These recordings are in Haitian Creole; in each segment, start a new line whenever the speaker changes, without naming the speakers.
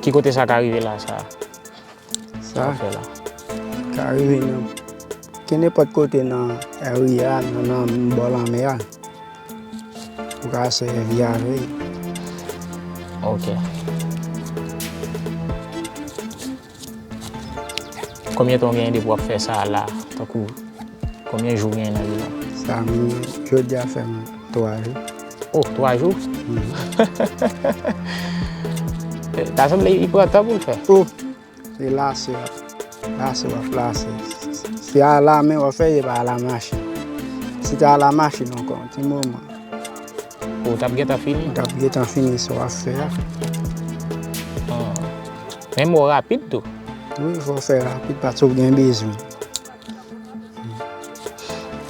Ki kote sa ka rive la sa?
Sa
ka rive
nan ke nenpòt kote nan ri a, nan bò lanmè a. Ou ka sèvi avè l.
Ok. Konbyen tan ou genyen depi wap fè sa la tankou konbyen jou ou genyen nan li la? Sa m
jodi a fè m 3 jou. Oh 3
jou? Ta sanble li pran tan pou l fè. Oh se
lase wap lase wap lase se a la men wap fè se pa a la machin. Si ta a la machin ankò yon ti moman. Ou
tap gentan fini? Ou tap gentan fini
sa wap fè a.
Men mwen rapid tou. Wi, fò w fè
rapid paske w gen bezwen.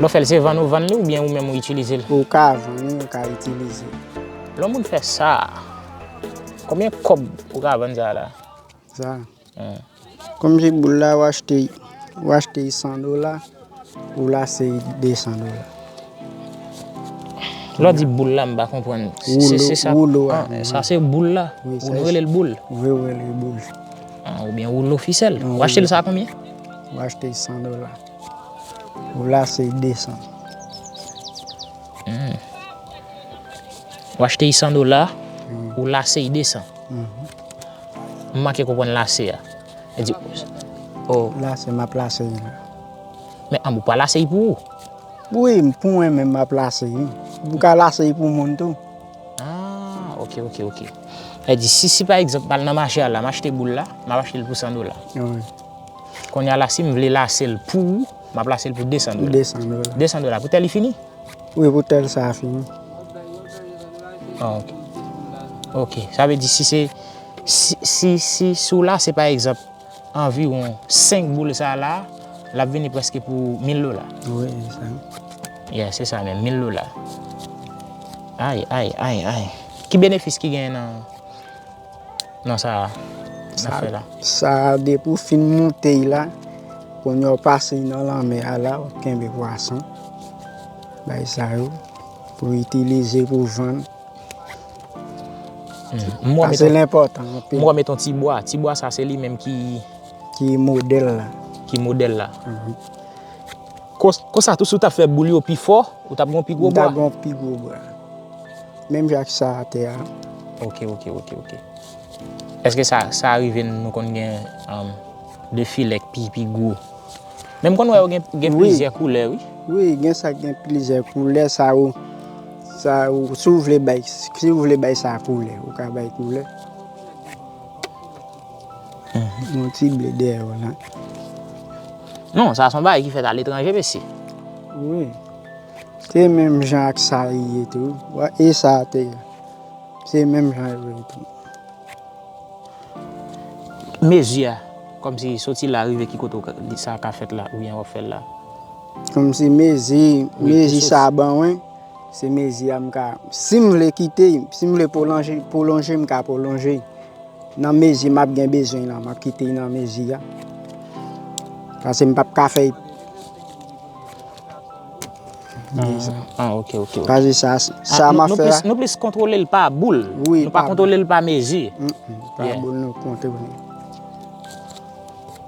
Lò fèl se vann ou vann li oubyen ou menm ou itilize l? Ou ka vann li,
ou ka itilize l. Lò moun fè
sa, konbyen kòb ou ka vann sa la? Sa?
Kom se boul la ou achte ou achte li 100 dola ou lase li 200 dola.
Lè w di boul la m pa konprann. Woulo a. Sa se boul la? Wi. Ou rele l boul? Wi ou rele l boul.
Oubyen
woulo fisèl. Ou achte l sa a konbyen? Ou achte l 100
dola. Ou lase li 200. Ou
achte li 100 dola, ou lase li 200. M manke konprann lase a. Li di, O. Lase, m ap
lase li la.
Men anmwe, ou pa lase li pou ou? Wi, pou
mwen menm m ap lase li. Ou ka lase li pou moun tou. A,
ok, ok, ok. Li di, si, si pa egzanp, m al nan mache a la, m achte boul la, m ap achte li pou 100 dola. Wi. Kounya la, si m vle lase li pou ou. M ap lase l pou 200 dola. 200 dola. 200 dola
pou tè li fini?
Wi, pou tè l sa
a fini.
Ok. Ok. Sa vle di si se, si, si, si w lase pa egzanp anviwon 5 boul sa la, l ap vini prèske pou 1000 dola. Wi, se sa
menm. Ya, se sa menm,
1000 dola. Ay, ay, ay, ay. Ki benefis ki genyen nan? nan sa nap fè la. Sa depi ou
fin moute y la kounye ou pase y nan lanmè a la ou kenbe pwason bay sa yo pou w itilize pou vann. Sa se l enpòtan anpil. M wè ou met yon ti
bwa, ti bwa sa se li menm ki. Ki modèl
la. Ki modèl la.
Konsa tou si w ta fè boul yo pi fò, ou tap gen yon pi gwo bra? M ta gen yon pi gwo bra.
Menm jan ak sa atè a. Ok, ok,
ok, ok. Eske sa, sa rive nou konn gen 2 filè k pi, pi gwo? Men m konn wè yo gen, gen plizyè koulè wi. Wi, gen sa k gen
plizyè koulè, sa yo, sa yo, si w vle bay, si w vle bay sa koulè, ou ka bay koulè. Yon ti ble dèyè yo la.
Non, sa son bagay ki fèt a letranje mesye. Wi.
Se menm jan ak sa li ye tou. Wè e sa a te ye. Se menm jan yo ye tou.
Mezi a, kòm si soti la rive ki kote ou sa ka fèt la oubyen wap fèl la. Kòm si
mezi, mezi sa a ban wen. Se mezi a m ka, si m vle kite, si m vle pwolonje, m ka pwolonje. Nan mezi m ap gen bezwen la, m ap kite nan mezi a. Pase m pap ka fè.
Ah, ok, ok. Pase
sa, sa m ap fè la. Nou plis kontrole l pa
boul. Oui. Nou pa kontrole l pa
mezi.
Mh, mh. Pa boul
nou kontrole.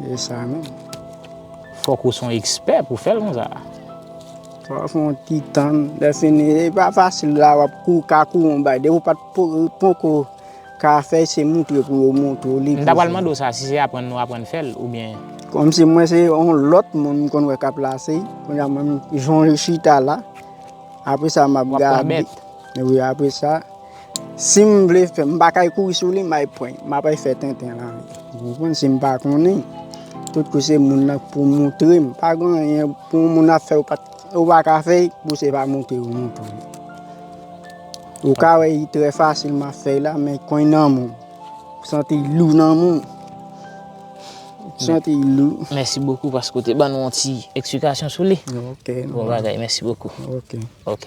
Se sa menm.
Fok
ou son expert pou fel konsa. Fok ou
fon ti tan. Le fini e pa fasil la wap kou ka kou yon bay. Depi ou pat poko ka fe
se
moutre
pou yo
moutre
ou li. M
ta pral
mande ou sa si se
aprann
nou aprann
fel
ou
byen.
Kom
si mwen se yon lot moun m konn we kap lase. Konnya mwen jan li chita la. Apre sa map gade. Wap pran bet. Wi apre sa. Sim vle fè m pa kay kouri sou li may pwen m apay fè tenten lan li ou konprann sim pa konnen tout kou se moun nan pou moutre m pa gon anyen pou moun ap fè ou pat ou pa ka fè pou se pa moutre ou moutre ou ka wè yi trè fasil ma fè la men kwen nan moun santi lou nan moun santi lou mèsi bokou paske ou
te ban nou yon ti eksplikasyon sou li ok bon bagay mèsi bokou ok
ok